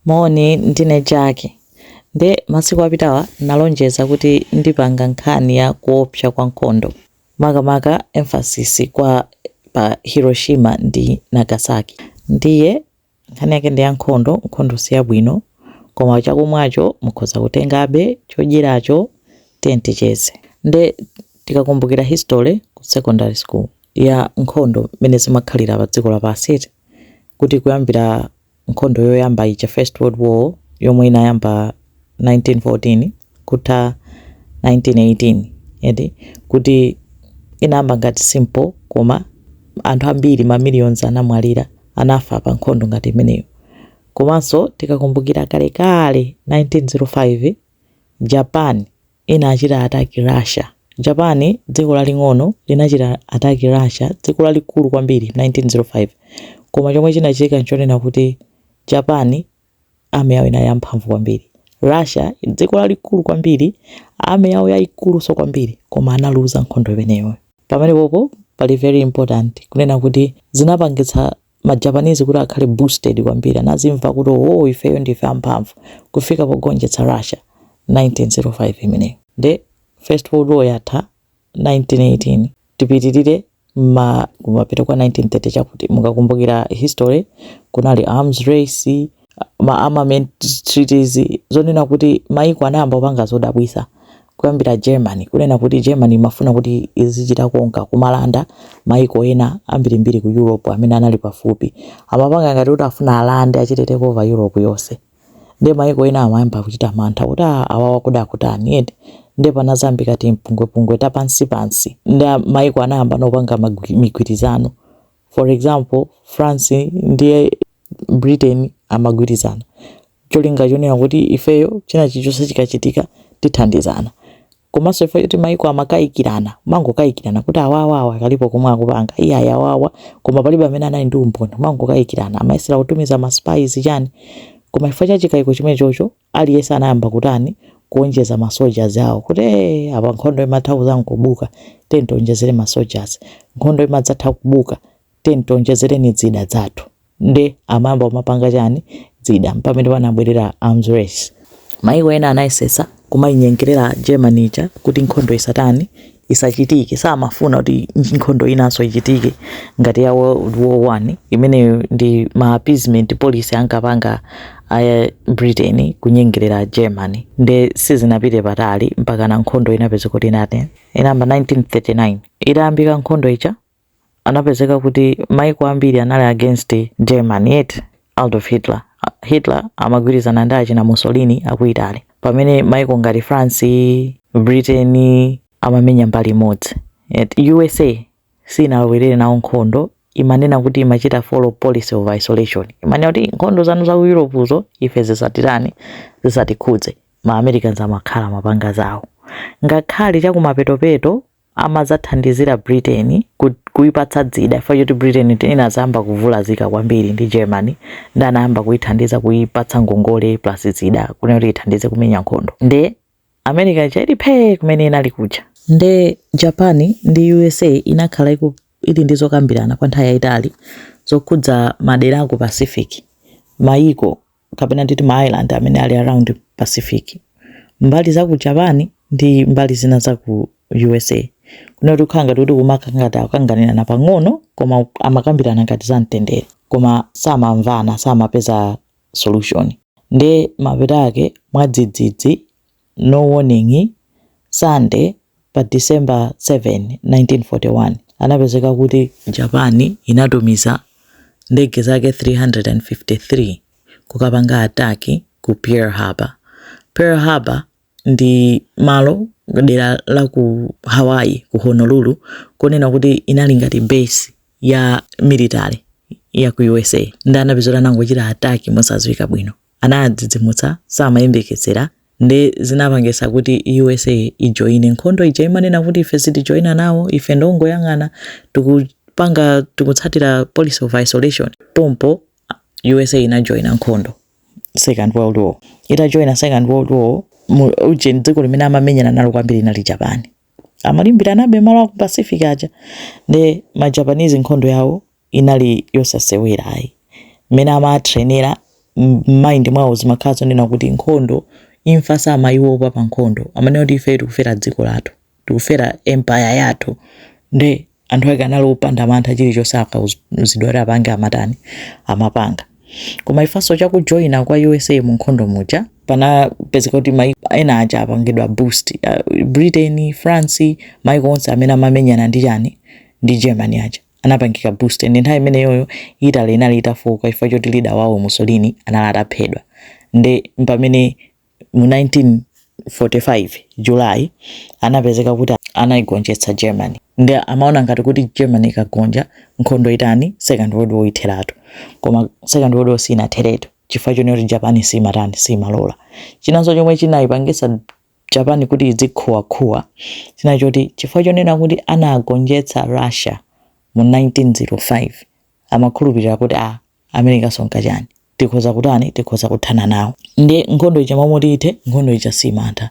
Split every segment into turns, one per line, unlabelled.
Moni, ndine Jack. Nde masiku apitawa nalonjeza kuti ndipanga nkhani ya kuopsa kwa nkhondo, makamaka emphasis pa Hiroshima ndi Nagasaki. Ndiye nkhani yake ndi ya nkhondo, nkhondo si yabwino, koma chakumwacho mukhoza kutengabe, chodyeracho, tiyeni ticheze. Nde tikakumbukira history ku secondary school ya nkhondo mmene zimakhalira padziko lapansi eti, kuti kuyambira nkhondo yoyamba ija, First World War, yomwe inayamba 1914 kutha 1918 eti kuti inayamba ngati simple koma anthu ambiri ma millions anamwalira anafa pa nkhondo ngati imeneyo komanso tikakumbukira kalekale 1905 Japan inachita attack Russia. Japan, dziko laling'ono, linachita attack Russia, dziko lalikulu kwambiri, 1905. Koma chomwe chinachitika n'chonena kuti Japan Army yawo inali yamphamvu kwambiri. Russia, dziko lalikulu kwambiri, Army yawo yaikulunso kwambiri, koma analuza nkhondo imeneyoyo. Pamenepopo pali very important kunena kuti zinapangitsa ma Japanese kuti akhale boosted kwambiri anazimva kuti oh ifeyo ndife amphamvu kufika pogonjetsa Russia 1905 imeneyo nde first world war yatha 1918 tipitirire kumapita kwa 1930 chakuti mukakumbukira history kunali arms race ma armament treaties zonena kuti maiko anayamba kupanga zodabwisa kuyambira germany kunena kuti germany imafuna kuti izichita conquer kumalanda maiko ena ambirimbiri ku europe amene anali pafupi amapanga ngati kuti afuna alande achite take over europe yonse nde maiko ena amayamba kuchita mantha kuti "Ah, awawa akuda kutani eti nde panazambika timpungwepungwe tapansipansi nde maiko anayamba nopanga magwi- migwirizano For example, France ndi Britain amagwirizana cholinga chonena kuti ifeyo china chichonse chikachitika tithandizana. Komanso chifukwa choti mayiko amakayikirana, mangokayikirana kuti awawa kalipo komwe akupanga, iyayi awawa koma palibe amene anali ndi umboni, mangokayikirana, amayesera kutumiza ma spies chani. Koma chifukwa cha chikayiko chimenechocho aliyense anayamba kutani kuonjeza ma soldiers awo kuti ee apa nkhondo imatha kuzan kubuka tiye tionjezere ma soldiers nkhondo imadzatha kubuka tiye tionjezereni zida zathu nde amayamba kumapanga chani zida mpamene panabwerera arms race maiko ena anayesesa kumainyengerera germany ija kuti nkhondo isatani isachitike samafuna kuti nkhondo inanso ichitike ngati ya world war one imeneyo ndi ma appeasement policy ankapanga a britain kunyengerera germany nde sizinapite patali mpakana nkhondo inapezeka kuti inatani inayamba 1939 itayambika nkhondo ija anapezeka kuti maiko ambiri anali against Germany eti, Adolf Hitler, Hitler amagwirizana ndi achina Mussolini aku Italy, pamene maiko ngati France, Britain amamenya mbali imodzi eti, usa siinalowerere nawo nkhondo imanena kuti imachita follow policy of isolation, imanena kuti nkhondo zanu zaku Europe zo ife zisatitani, zisatikhudze, ma Americans amakhala amapanga zawo, ngakhale chakumapetopeto amazathandizira Britain ku, kuipatsa zida chifukwa choti Britain inazayamba kuvulazika kwambiri ndi Germany ndi anayamba kuithandiza kuipatsa ngongole plus zida kunena kuti ithandize kumenya nkhondo nde America ija ili phee kumene inali kuja nde Japan ndi USA inakhala iku, ili ndi zokambirana kwa nthawi yayitali zokhudza madera a ku Pacific mayiko kapena nditi ma island amene ali around pacific mbali za ku japan ndi mbali zina za ku usa kunena kuti kukhala ngati kuti kumakhala ngati akanganirana pang'ono koma amakambirana ngati za mtendere koma samamvana samapeza solution nde mapeto ake mwadzidzidzi No Warning, Sunday, pa December 7, 1941, anapezeka kuti Japan inatumiza ndege zake 353 kukapanga attack ku Pearl Harbor. Pearl Harbor ndi malo dera la ku Hawaii ku Honolulu kunena kuti inali ngati base ya military ya ku USA ndi anapezeka kuti anangochita attack mosadziwika bwino. anawadzidzimutsa samayembekezera nde zinapangisa kuti usa ijoine nkhondo ija imanena kuti ife sitijoina nawo ife tingoyang'ana tikupanga tikutsatira policy of isolation pompo usa inajoina nkhondo second world war itajoina second world war uje dziko limene amamenyana nalo kwambiri inali japan amalimbiranabe malo aku pacific aja nde majapanese nkhondo yawo inali yosasewera ayi. Mmene amatrainera m'mind mwawo zimakhala zonena kuti nkhondo imfa samayiwopa pa nkhondo amanena kuti ifeyo tikufera dziko lathu tikufera empire yathu nde anthu ake anali opanda mantha chilichonse akauzidwa kuti apange amatani amapanga koma chifukwanso cha kujoina kwa usa mu nkhondo muja panapezeka kuti maiko ena aja apangidwa boost uh, britain france maiko onse amene amamenyana ndi chani ndi germany aja anapangika boost ndi nthawi imeneyoyo Italy inali itafoka chifukwa choti leader wawo Mussolini anali ataphedwa nde pamene mu 1945 July anapezeka kuti anaigonjetsa Germany nde amaona ngati kuti Germany ikagonja nkhondo itani second world war itheratu koma second world war siinatheretu chifukwa chonena kuti Japan siimatani siimalora chinanso chomwe chinaipangitsa Japan kuti izikhuwakhuwa china nchoti chifukwa chonena kuti anagonjetsa Russia mu 1905 amakhulupirira kuti a America sonka chani tikhoza kutani tikhoza kuthana nawo nde nkhondo ija momoti ithe nkhondo ija simantha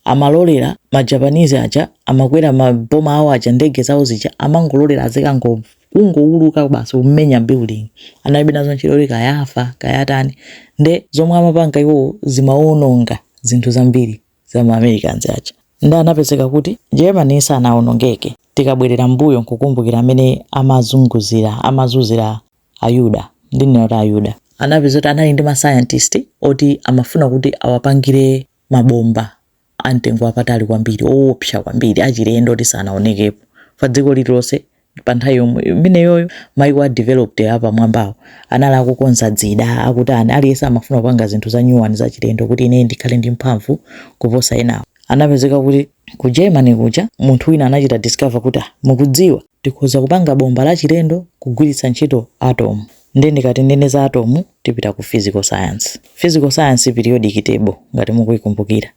amalolera ma Japanese aja amakwera ma bomber awo aja ndege zawo zija amangololera azikango kungowuluka basi kumenya building analibe nazo ntchito kuti kaya afa kaya atani nde zomwe amapanga iwowo zimawononga zinthu zambiri za ma americans aja nde anapezeka kuti Germany sanawonongeke tikabwerera mbuyo nkukumbukira amene amazunguzira amazunzira ayuda ndimanena kuti ayuda anapezeka kuti anali ndi mascientist oti amafuna kuti awapangire mabomba a mtengo wapatali kwambiri, owopsa kwambiri, achilendo oti sanaonekepo pa dziko lililonse pa nthawi yomwe imeneyoyo. Maiko a developed apamwambawo anali akukonza dzida, akutani, aliyense amafuna kupanga zinthu za nyuwani zachilendo kuti ineyo ndikhale ndi mphamvu kuposa enawo. Anapezeka kuti ku Germany kuja munthu wina anachita discover kuti, ah, mukudziwa? Tikhoza kupanga bomba lachilendo kugwiritsa ntchito atom. Ndiye ndikati ndinene za atom, tipita ku physical science. Physical science, periodic table, ngati mukuikumbukira.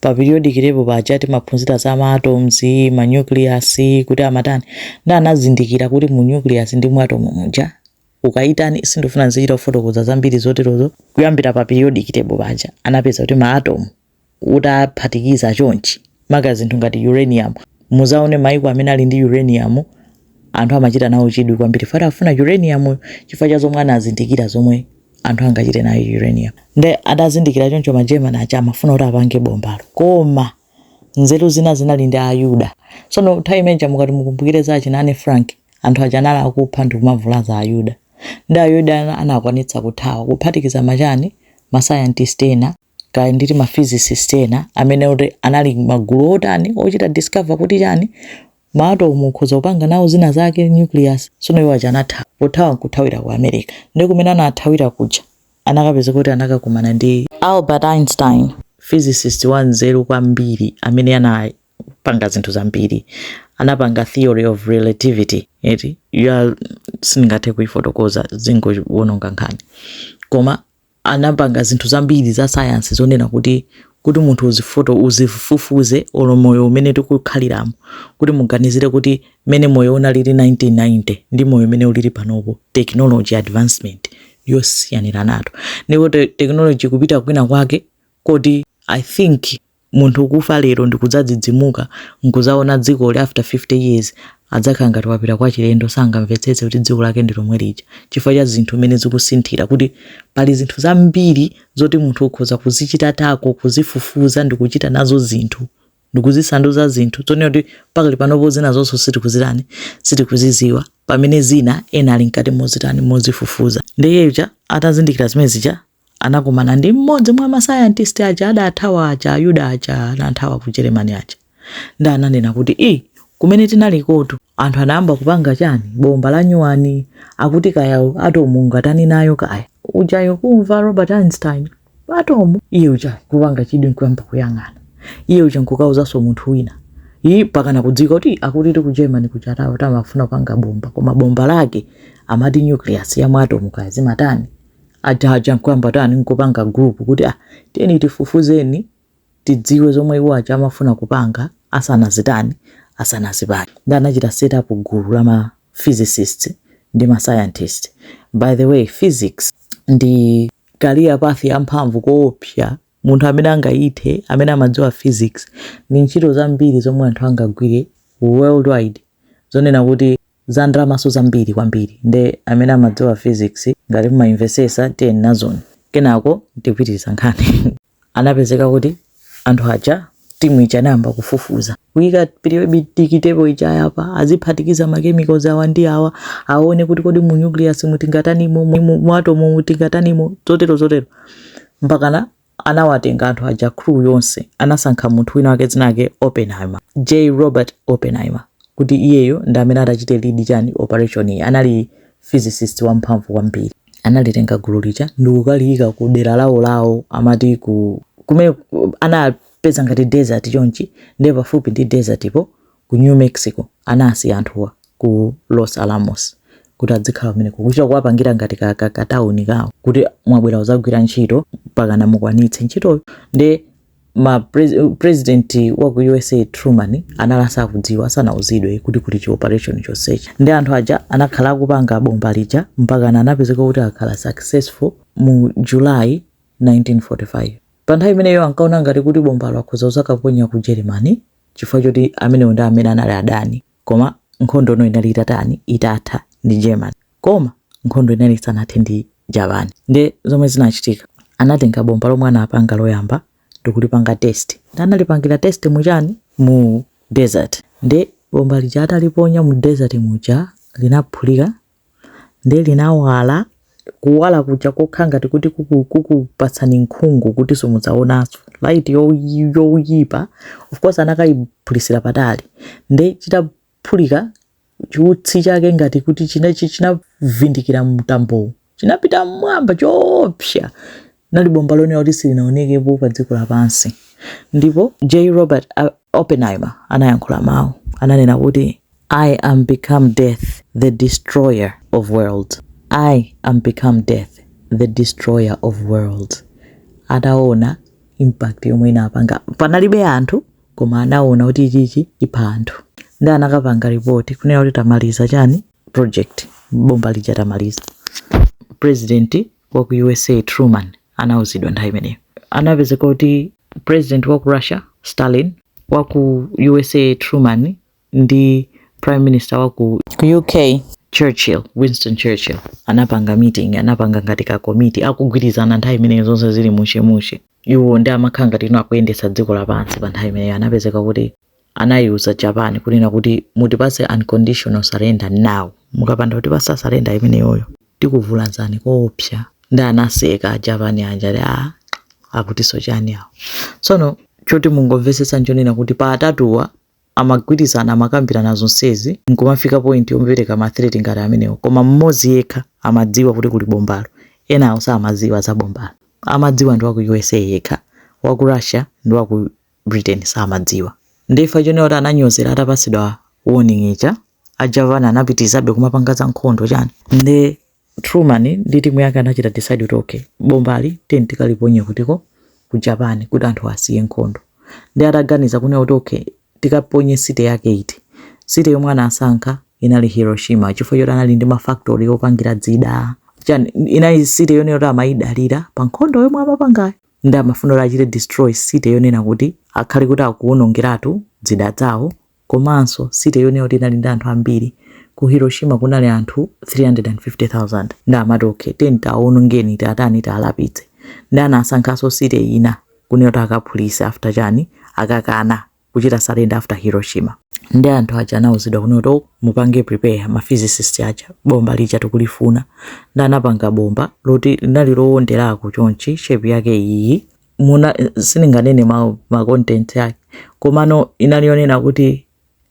Pa periodic table paja timaphunzira za ma atoms, ma nucleus, kuti amatani. Ndiye anazindikira kuti mu nucleus ndi mu atom muja, ukaitani, sindifuna ndizichita kufotokoza zambiri zoterozo, kuyambira pa periodic table paja anapeza kuti ma atom utaphatikiza chonchi maka zinthu ngati uranium muzaone maiko amene ali ndi uranium anthu amachita nawo chidwi kwambiri fact amafuna uranium chifukwa cha zomwe anazindikira zomwe anthu angachite nayo uranium nde adazindikira choncho ma german aja amafuna kuti apange bombalo koma nzeru zina zinali ndi ayuda sono nthawi imeneja mukati mukumbukire za achina Anne Frank anthu aja anali akupha ndi kumavulaza ayuda nde ayuda ana- anakwanitsa kuthawa kuphatikiza machani masayantisti ena kaya nditi ma physicist ena amene kuti anali magulu otani ochita discover kuti chani ma atom ukhoza kupanga nawo zina zake nucleus sono iwo aja anathawa pothawa nkuthawira ku america nde kumene anathawira kuja anakapeza kuti anakakumana ndi albert einstein physicist wa nzeru kwambiri amene anapanga zinthu zambiri anapanga theory of relativity eti ya sindingathe kuifotokoza zingowononga nkhani koma anapanga zinthu zambiri za sayansi zonena kuti kuti munthu uzifoto uzifufuze olo moyo umene tikukhaliramo kuti muganizire kuti mmene moyo unalili 1990 ndi moyo umene ulili panopo technology advancement yosiyaniranatu ndipo te- technology kupita kwina kwake kodi i think munthu kufa lero ndikudzadzidzimuka nkuzaona dziko ili after 50 years adzakhala ngati wapita kwa chilendo sangamvetsetse kuti dziko lake ndi lomwe lija chifukwa cha zinthu mmene zikusinthira kuti pali zinthu zambiri zoti munthu ukhoza kuzichitatako kuzifufuza ndikuchita nazo zinthu ndikuzisanduza zinthu zonena kuti pakali panopo zina zonse sitikuzitani sitikuziziwa pamene zina ena ali mkati mozitani mozifufuza ndiye uja atazindikira zimene zija anakumana ndi mmodzi mwa masayantisti aja adathawa aja ayuda aja anathawa ku Germany aja nde ananena kuti ii kumene tinaliko tu anthu anayamba kupanga chani bomba la nyuwani akuti kaya atomu ungatani nayo kaya ujayo kumva Albert Einstein atomu iye uja kupanga chidwi nkuyamba kuyang'ana iye uja nkukauzaso munthu wina iyi mpakana kudziwa kuti akuti ti ku germany kuja tawo amafuna kupanga bomba koma bomba lake amati nucleus ya mwatomu kaya zimatani aja aja nkuyamba tani nkupanga group kuti ah tiyeni tifufuzeni tidziwe zomwe iwo aja amafuna kupanga asanazitani asanazipange nde anachita set up gulu la ma physicists ndi ma scientist by the way physics ndi career path yamphamvu koopsa munthu amene angayithe amene amadziwa physics ndi ntchito zambiri zomwe anthu angagwire worldwide zonena kuti Za ndalamaso zambiri kwambiri nde amene amadziwa physics ngati mumayimvesesa tiyeni nazoni kenako ndipitiliza nkhani. Anapezeka kuti anthu aja team ija inayamba kufufuza kuyika periodic table ija yapa aziphatikiza ma chemicals awa ndi awa awone kuti kodi mu nucleus mu tingatanimo mu atomu mu tingatanimo zotero zotero mpakana Anawatenga anthu aja crew yonse anasankha munthu wina wake dzina lake Oppenheimer, J Robert Oppenheimer, kuti iyeyo ndi amene atachite lead chani operation iyi anali physicist wamphamvu kwambiri. Analitenga gulu lija ndikukaliyika ku dera lawo lawo amati ku kumene anapeza ngati desert chonchi ndiye pafupi ndi desert po ku New Mexico anasiya anthuwa ku Los Alamos kuti adzikhala kumeneko kuchita kuwapangira ngati ka, ka, ka town kawo kuti mwabwera kuzagwira ntchito mpakana mukwanitse ntchitoyo nde ma pres, president wa ku USA Truman anali asakudziwa asanauzidwe kuti kuli chi operation chonsechi nde anthu aja anakhala akupanga bomba lija mpakana anapezeka kuti akhala successful mu July 1945 pa nthawi imeneyo ankaona ngati kuti bombalo akhoza kuzakaponya ku Germany chifukwa choti amenewo ndi amene anali adani koma nkhondo ino inali itatani itatha ndi germany koma nkhondo inali isanathe ndi japan nde zomwe zinachitika anatenga bomba lomwe anapanga loyamba ndikulipanga test nde analipangira test muchani mu desert nde bomba lija ataliponya mu desert muja linaphulika ndiye linawala kuwala kuja kokhala ngati kuti kuku- kukupatsani nkhungu kuti simudzaonanso light yoyi- yoyipa of course anakayiphulisira patali nde chitaphulika chiutsi chake ngati kuti china chi- chinavindikira mtambowu chinapita mmwamba choopsa Linali bomba lonena kuti silinaonekepo padziko lapansi. Ndipo J. Robert Oppenheimer anayankhula mawu, ananena kuti, I am become death, the destroyer of worlds. I am become death, the destroyer of worlds. Ataona impact yomwe inapanga, panalibe anthu koma anaona kuti ichichi ipha anthu, ndi anakapanga report kunena kuti tamaliza chani project, bomba lija tamaliza. President wa ku usa truman anauzidwa nthawi imeneyo anapezeka kuti president wa ku russia stalin wa ku usa truman ndi prime minister wa ku ku uk churchill winston churchill anapanga meeting anapanga ngati ka komiti akugwirizana nthawi imeneyo zonse zili mushemushe iwo ndi amakhala ngati ino akuyendetsa dziko lapansi pa nthawi imeneyo anapezeka kuti anayiuza Japan kunena kuti mutipase unconditional surrender now mukapanda kutipasa surrender imeneyoyo tikuvulazani koopsa ndi anaseka ajapani aja akutiso chani awo tsono choti mungomvetsetsa nchonena kuti pa atatuwa amagwirizana amakambirana zonsezi nkumafika point yopereka ma threat ngati amenewo koma mmodzi yekha amadziwa kuti kuli bombalo enawo samadziwa za bombalo amadziwa ndi wa ku usa yekha wa ku russia ndi wa ku Britain samadziwa nde chifukwa chonena kuti ananyozera atapatsidwa warning ija a Japan anapitirizabe kumapanga za nkhondo chani nde Truman ndi timu yake anachita decide kuti okay bombali tiyeni tikaliponye kutiko ku Japan kuti anthu asiye nkhondo ndi ataganiza kunena kuti okay tikaponye city yake iti city yomwe anasankha inali Hiroshima chifukwa choti anali ndi mafactory opangira dzida chani inali city yonena kuti amayidalira pa nkhondo yomwe amapangayo Nde amafuna kuti achite destroy city yonena kuti akhale kuti akuwonongeratu dzida zawo komanso city yonena kuti inali ndi anthu ambiri. Ku Hiroshima kunali anthu 350,000 nde amati okay tiyeni tiawonongeni tiatani tialapitse. Nde anasankhanso city ina kunena kuti akaphulise after chani akakana. kuchita surrender after Hiroshima. Ndi anthu aja anauzidwa kunena kuti mupange prepare ma physicist aja bomba lija tikulifuna. Ndi anapanga bomba loti linali loonderako chonchi shape yake iyi. Muna sininganene ma, ma content yake. Komano inali yonena kuti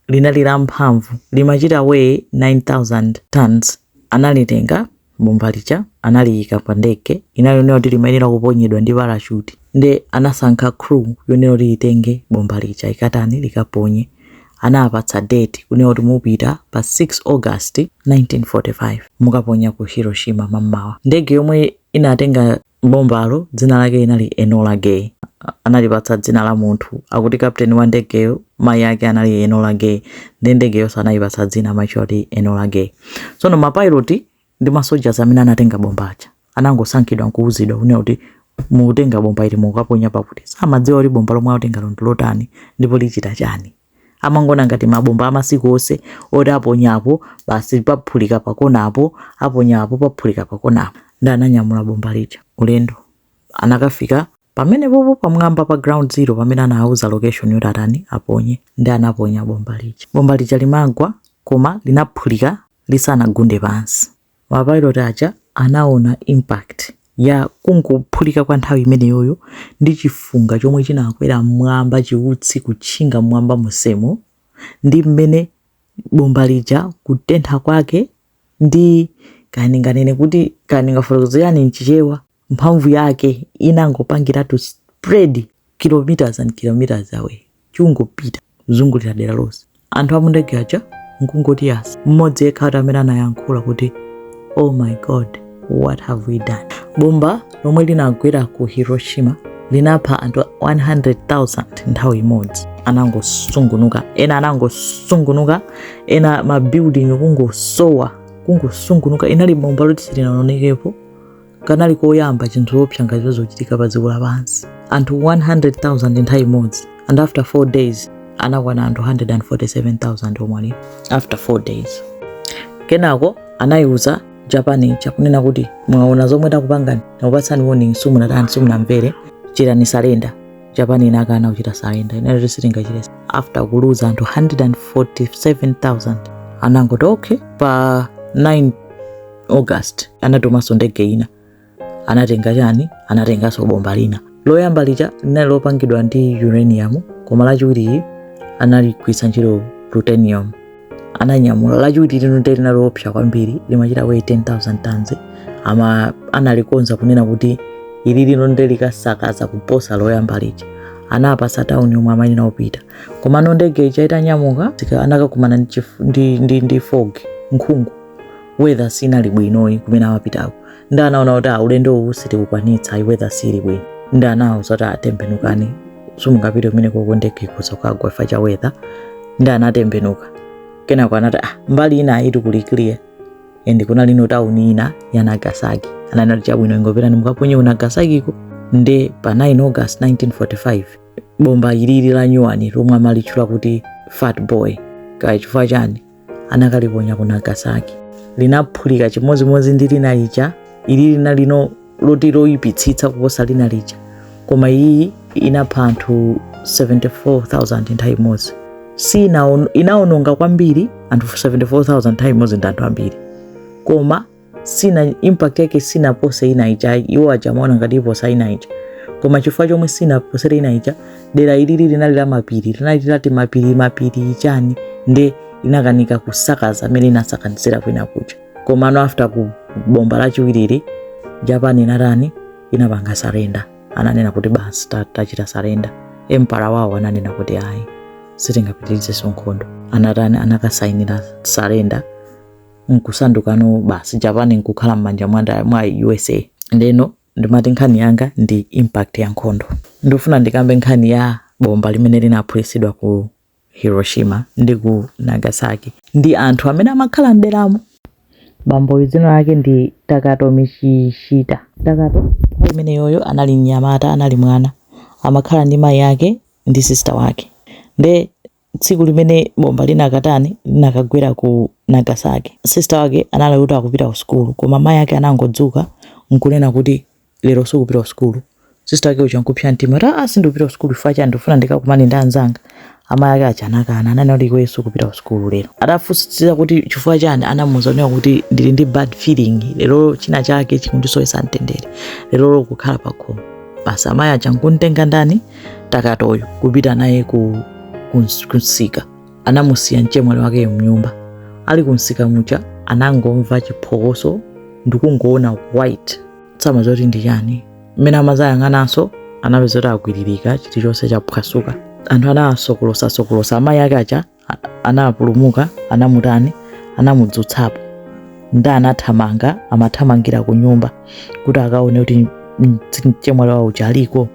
linali la mphamvu limachita weigh 9000 tons analitenga bomba lija analiika pa ndege inali yonena kuti limayenera kuponyedwa ndi parachute nde anasankha crew yonena kuti itenge bomba lija ikatani likaponye anawapatsa date kunena kuti mupita pa 6 august 1945 mukaponya ku hiroshima mammawa ndege yomwe inatenga Bombalo dzina lake inali Enola Gay. Analipatsa dzina la munthu, akuti captain wa ndegeyo mayi ake anali Enola Gay nde ndegeyonso anayipatsa dzina amatchula kuti Enola Gay. Tsono mapilot ndi masoldiers amene anatenga bomba lija anangosankhidwa n'kuwuzidwa kunena kuti mutenga bomba ili mukaponya pakuti. Samadziwa kuti bomba lomwe atengalo ndi lotani ndipo lichita chani. amangoona ngati mabomba amasiku onse oti aponyapo basi paphulika pakonapo aponyapo paphulika pakonapo nde ananyamula bomba lija ulendo anakafika pamenepopo pamwamba pa ground zero pamene anawauza location yoti atani aponye nde anaponya bomba lija bomba lija limagwa koma linaphulika lisanagunde pansi ma pilot aja anaona impact ya kungophulika kwa nthawi imeneyoyo ndi chifunga chomwe chinakwera mmwamba chiutsi kutchinga mmwamba monsemo ndi mmene bomba lija kutentha kwake ndi kaya ndinganene kuti kaya ndingafotokozere chani mchichewa mphamvu yake inangopangiratu spread kilometers and kilometers away kungopita kuzungulira dera lonse anthu a mu ndege aja nkungoti yasi mmodzi yekha ati amene anayankhula kuti oh my god what have we done bomba lomwe linagwera ku hiroshima linapha anthu 100000 nthawi imodzi anangosungunuka ena anangosungunuka ena mabuilding kungosowa kungosungunuka inali bomba loti silinaonekepo kanali koyamba chinthu choopsa ngati icho chochitika pa dziko lapansi anthu 100,000 nthawi imodzi and after 4 days anakwana anthu 147,000 omwe after 4 days kenako anayiuza japan ija kunena kuti mwaona zomwe takupangani takupatsani warning simunatani simunamvere chitani surrender japan inakana kuchita surrender inati sitingachite after kuluza anthu 147,000 anangoti okay pa 9 august anatumanso ndege ina anatenga chani anatenganso bomba lina loyamba lija linali lopangidwa ndi uranium koma lachiwiri anagwiritsa ntchito plutonium ananyamula lachiwiri lino nde linali loopsa kwambiri limachita weigh 10000 tons ama analikonza kunena kuti ili lino nde likasakaza kuposa loyamba lija anawapatsa tauni yomwe amanena opita komano ndege ija itanyamuka tika- anakakumana ndi chif- ndi- ndi- ndi fog nkhungu weather sinali bwinoyi kumene amapitako nde anaona kuti ah, ulendo uwu sitikukwanitsa ayi weather sili bwino nde anawauza kuti ah tembenukani simungapite kumene kuko ndege ikhoza kukagwa chifukwa cha weather nde anatembenuka kenako anati ah, mbali ina iyitu kuli clear and kunali ku tauni ina ya nagasaki nde anati chabwino ingopitani mukaponye ku nagasakiko nde pa 9 august 1945 bomba ilili la nyuwani lomwe amalitchula kuti fat boy kaya chifukwa chani anakaliponya ku nagasaki linaphulika chimodzimodzi ndi lina lija ili linalinso loti loyipitsitsa kuposa lina lija koma iyi inapha anthu 74000 nthawi imodzi si inaon- inaononga kwambiri anthu 74000 nthawi imodzi ndi anthu ambiri koma sina impact yake sinapose ina ija iwo aja amaona ngati iposa ina ija koma chifukwa chomwe sinaposere ina ija dera ilili linali la mapiri linali lati mapiri mapiri chani nde inakanika kusakaza amene inasakanizira kwina kuja komano after bomba lachiwirili japan inatani inapanga surrender ananena kuti basi ta- tachita surrender emperor wawo ananena kuti ayi sitingapitirizenso nkhondo anatani anakasainira surrender nkusandukano basi japan nkukhala m'manja mwa nda- mwa usa ndeno ndimati nkhani yanga ndi impact ya nkhondo ndifuna ndikambe nkhani ya bomba limene linaphulitsidwa ku hiroshima ndi ku nagasaki ndi anthu amene amakhala mderamo bamboyu dzina lake ndi takato michishita takato nthawi imeneyoyo anali mnyamata anali mwana amakhala ndi mayi ake ndi sister wake nde tsiku limene bomba linakatani linakagwera ku nagasaki sister wake anali kuti akupita ku sukulu koma mayi ake anangodzuka nkunena kuti lero sukupita ku sukulu sister wake uja nkupsa mtima kuti aa sindikupita ku sukulu chifukwa chani ndikufuna ndikakumane ndi anzanga amayi ake aja anakana ananena kuti iweyo sukupita ku sukulu lero atafunsitsa kuti chifukwa chani anamuuza kunena kuti ndili ndi bad feeling lero china chake chikundisowetsa mtendere lero ukhala pakhomo basi amayi aja nkumutenga ndani takatoyo kupita naye kumsika anamusiya mchemwali wakeyo mnyumba ali kumsika muja anangomva chiphokoso ndikungoona white samadziwa kuti ndi chani mmene amadzayang'ananso anapeza kuti akwiririka chilichonse chaphwasuka anthu anawasokolosa sokolosa amayi ake aja anapulumuka anamutani anamudzutsapo nde anathamanga amathamangira ku nyumba kuti akaone kuti mchemwali wawo uja aliko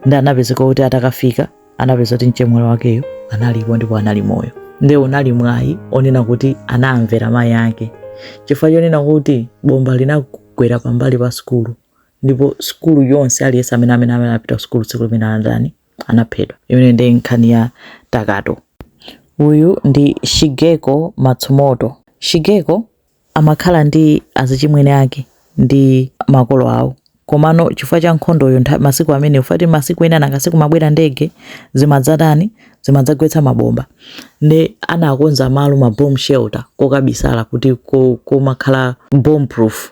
nde anapezeka kuti atakafika anapeza kuti mchemwali wakeyo analipo ndipo anali moyo nde unali mwayi onena kuti anamvera mayi ake chifukwa chonena kuti bomba linagwera pambali pa sukulu ndipo sukulu yonse aliyense amene amene amene anapita ku sukulu tsiku limenelo anatani anaphedwa. Imeneyo ndiye nkhani ya Takato. Uyu ndi Shigeko Matsumoto. Shigeko amakhala ndi azichimwene ake ndi makolo awo. Komano chifukwa cha nkhondoyo ntha- masiku amene ufati masiku ena nanga sikumabwera ndege zimadzatani zimadzagwetsa mabomba nde anakonza malo ma bomb shelter kokabisala kuti ko- komakhala bomb proof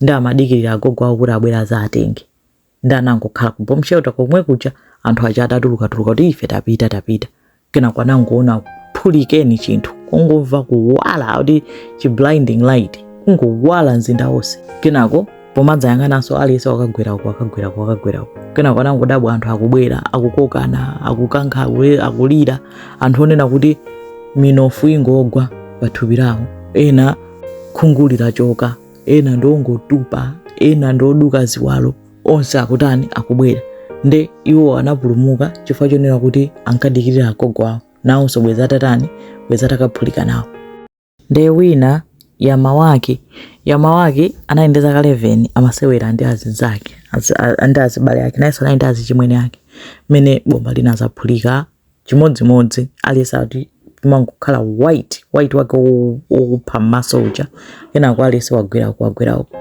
ndi amadikirira agogo awo kuti abwera azatenge ndi anangokhala ku bomb shelter komwe kuja anthu aja atatulukatuluka kuti ife tapita tapita kenako anangoona phulikeni chinthu kungomva kuwala kuti chi blinding light kungowala mzinda wonse kenako pomadzayang'ananso aliyense wakagwera uko wakagwera uko wakagwera uko kenako anangodabwa anthu akubwera akukokana akukankha akule- akulira anthu onena kuti minofu ingogwa pathupi lawo ena khungu litachoka ena ndi ongotupa ena ndi oduka ziwalo onse akutani akubwera nde iwo anapulumuka chifukwa chonena kuti ankadikirira agogo awo nawonso bweza atatani bweza atakaphulika nawo nde wina Yamawaki Yamawaki anali ndi zaka 11 amasewera ndi azinzake ndi azibale ake nayenso anali ndi azichimwene ake mmene bomba linazaphulika chimodzimodzi aliyense akuti timangokhala white white wake wo- wokupha m'maso uja kenako aliyense wagwera uku wagwera uku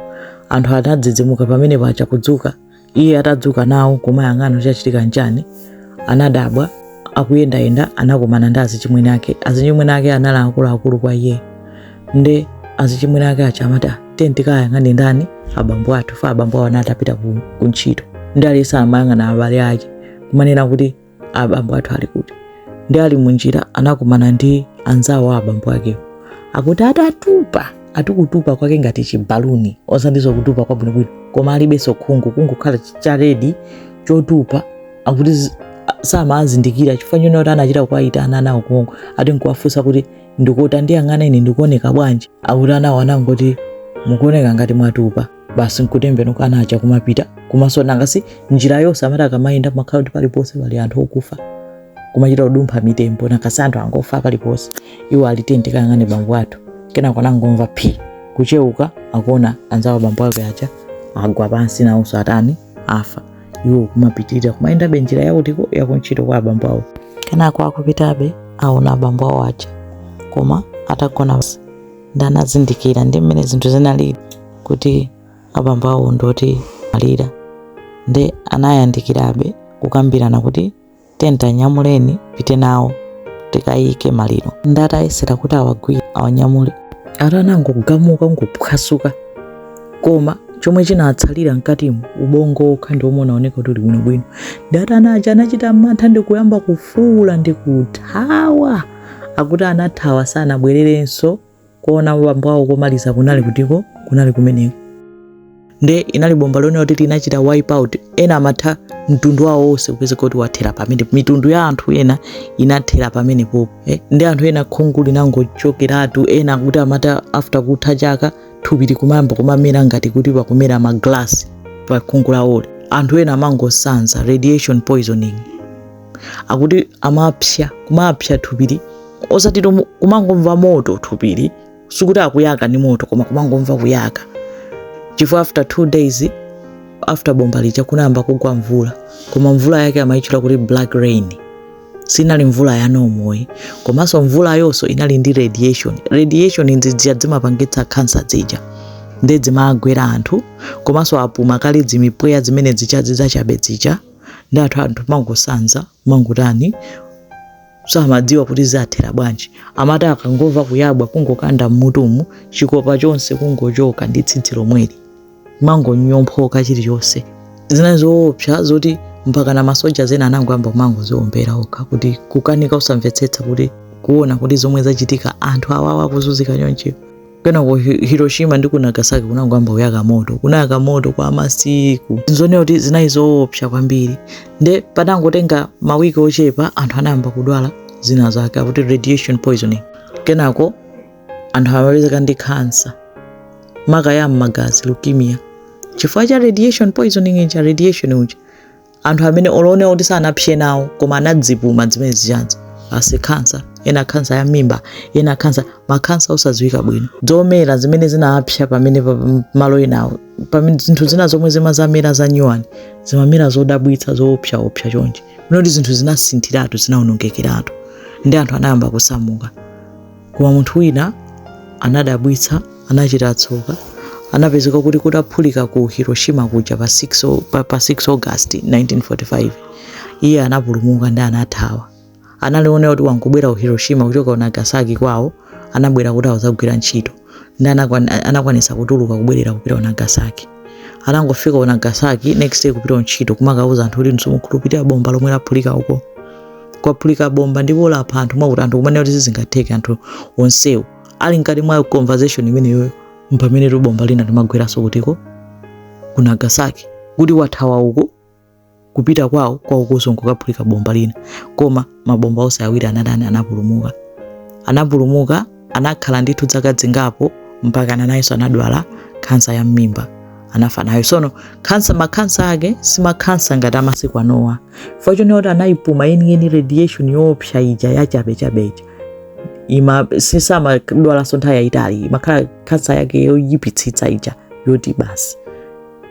anthu anadzidzimuka pamenepaja kudzuka iye atadzuka nawo kumayang'ana chachitika nchani anadabwa akuyendayenda anakumana ndi azichimwene ake azichimwene ake anali akuluakulu kwa iye nde azichimwene ake aja amati "Ah, tiye tikayang'ane ndani abambo athu fa abambo awo anatapita ku, ku ntchito ndi aliyense amayang'ana abale ake kumanena kuti abambo athu ali kuti ndi ali munjira anakumana ndi anzawo a abambo akewo akuti atatupa ati kutupa kwake ngati chibaluni osatinso kutupa kwabwinobwino koma alibenso khungu kungokhala charedi chotupa akuti zi- a- samazindikira chifukwa chonena kuti anachita kuwayitana anawo konko ati nkuwafunsa kuti ndikuti tandiyang'ana ine ndikuoneka bwanji akuti anawo anangoti mukuoneka ngati mwatupa basi nkutembenuka ana aja kumapita komanso nangasi njira yonse amati akamayenda makhala kuti paliponse pali anthu okufa kumachita kudumpha mitembo nangasi anthu angofa paliponse iwo ali tiyeni tikayang'ane bambo athu kenako anangomva phi kucheuka akuona anzawo a bambo ake aja agwa pansi nawonso atani afa iwo kumapitirira kumayendabe njira yakutiko yakuntchito kwa abambo awo kenako akupitabe aona abambo awo aja koma atagona pansi ndi anazindikira ndi mmene zinthu zinali kuti abambo awo ndi oti amwalira ndi anayandikirabe kukambirana kuti tiyeni tawanyamuleni tipite nawo tikayike maliro ndi atayesera kuti awagwire awanyamule akuti anangogamuka ngophwasuka koma chomwe chinatsalira mkatimo ubongo wokha ndi omwe unaoneka kuti uli bwinobwino ndi akuti ana aja anachita mantha ndi kuyamba kufuula ndi kuthawa Akuti anathawa sanabwererenso kuona bambo awo komaliza kunali kutiko kunali kumeneko nde inali bomba lomwe akuti linachita wipe out ena amatha mtundu wawo wonse kupeza kuti wathera pamene mitundu ya anthu ena inathera pamenepopo eh? ndi anthu ena khungu linangochokeratu ena akuti amati after kutha chaka thupi likumayamba kumamera ngati kuti pakumera maglasi pa khungu lawoli anthu ena amangosanza radiation poisoning akuti amapsya kumapsya thupili osati kumangomva moto thupili sikuti akuyaka ni moto koma kumangomva kuyaka chifukwa after two days after bomba lija kunayamba kugwa mvula koma mvula yake amayitchula kuti black rain sinali mvula ya normal komanso mvula yonso inali ndi radiation radiation nzija zimapangitsa khansa zija nde zimagwera anthu komanso apuma kale zimipweya zimene zija zachabe zija ndi anthu anthu amangosanza amangotani samadziwa kuti zathera bwanji amati akangomva kuyabwa kungokanda mmutumu chikopa chonse kungochoka ndi tsitsi lomweli kumangonyomphoka chilichonse zina zoopsa zoti mpaka na masoja ena anangoyamba kumangodziombera okha kuti kukanika osamvetsetsa kuti kuona kuti zomwe zachitika anthu awawa akuzunzika chonchi kenako Hi- hiroshima ndi ku nagasaki kunangoyamba kuyaka moto kunayaka moto kwa masiku zinaoneka kuti zinali zoopsa kwambiri nde patangotenga mawiki ochepa anthu anayamba kudwala zina zake akuti radiation poisoning kenako anthu amapezeka ndi khansa maka ya m'magazi leukemia chifukwa cha radiation poisoning cha radiation uja anthu amene olo ndi kuti sanapse nawo koma anazipuma zimene zijazi basi khansa ena khansa ya mimba ena khansa makhansa osadziwika bwino zomera zimene zinapsa pamene pa- m- malo enawo pamene zinthu zina zomwe zimadzamera za nyuwani zimamera zodabwitsa zoopsaopsa chonchi kunena kuti zinthu zinasinthiratu zinaonongekeratu ndi anthu anayamba kusamuka koma munthu wina anadabwitsa anachita tsoka anapezeka kuti kutaphulika ku hiroshima kuja pa 6, o- pa, pa 6 august 1945 iye anapulumuka ndi anathawa anali oti wangobwera ku hiroshima kuchoka ku nagasaki kwawo anabwera kuti akudzagwira ntchito ndi anakwan- anakwanisa kutuluka kubwerera kupita ku nagasaki anangofika ku nagasaki next day kupita ku ntchito kumakauza anthu kuti simukhulupirira bomba lomwe laphulika uko kwaphulika bomba ndipo lapha anthu mwakuti anthu kumene kuti sizingatheke anthu onsewo ali mkati mwa conversation imeneyoyo mpamene tu bomba lina limagweranso kutiko ku nagasaki kuti wathawa uko kupita kwawo kwaukonso nkukaphulika bomba lina koma mabomba onse awiri anatani anapulumuka anapulumuka anakhala ndithu zaka zingapo mpaka ana nayenso anadwala khansa ya mmimba anafa nayo sono khansa makhansa ake simakhansa ngati amasiku anowa chifukwa chonena kuti anayipuma yeniyeni radiation yoopsa ija yachabechabe ija ima sumadwalanso nthawi yayitali imakhala khansa yake yoyipitsitsa ija yoti basi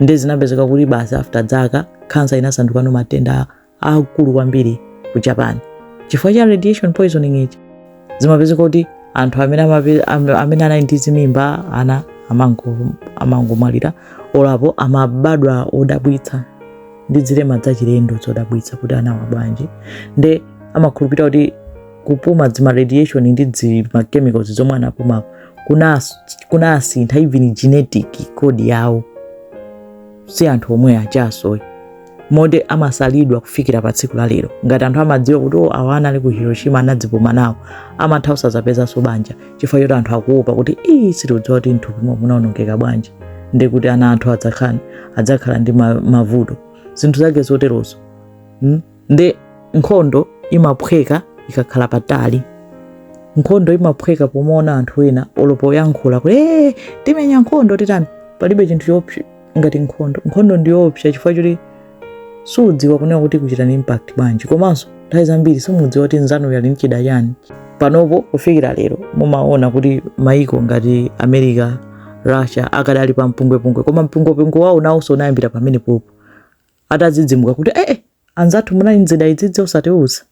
nde zinapezeka kuti basi after zaka khansa inasandukano matenda aakulu kwambiri ku japan chifukwa cha radiation poisoning ija zimapezeka kuti anthu amene amape- am- amene anali ndi zimimba ana amango- amangomwalira olapo amabadwa odabwitsa ndi zilema zachilendo zodabwitsa kuti anawa bwanji nde amakhulupirira kuti kupuma zima radiation ndi zima chemicals zomwe anapuma kunas- kunasintha even genetic code yawo si anthu omwe achasoyi moti amasalidwa kufikira pa tsiku la lero ngati anthu amadziwa kuti o awa anali ku hiroshima anazipuma nawo amatha kusadzapezanso banja chifukwa choti anthu akuopa kuti ii sitidziwa kuti mthupi momwe munaonongeka bwanji ndi kuti ana athu adzakhala adzakhala ndi ma- mavuto zinthu zake zoterozo mm? ndi nkhondo imaphweka ikakhala patali nkhondo imaphweka pomaona anthu ena olopo yankhula kuti ee timenya nkhondo titani palibe chinthu choopsa ngati nkhondo nkhondo ndiyoopsa chifukwa choti sudziwa kunena kuti kuchita ni impact bwanji komanso nthawi zambiri simudziwa kuti nzanuyu ali ndi chida chani panopo kufikira lero mumaona kuti maiko ngati america russia akadali pa mpungwepungwe koma mpungwepungwe wawo nawonso unayambira pamene popo atadzidzimuka kuti ee eh, eh, anzathu munali nzida izizi osatiuza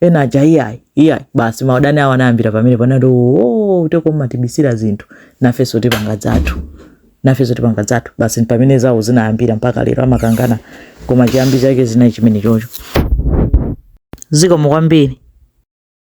ena aja iyayi iyayi basi maudani awo anayambira pamene panati oo uteko mmatibisira zinthu nafenso tipanga zathu nafenso tipanga zathu basi pamene zawo zinayambira mpaka lero amakangana koma chiyambi chake chinali chimene chocho zikomo kwambiri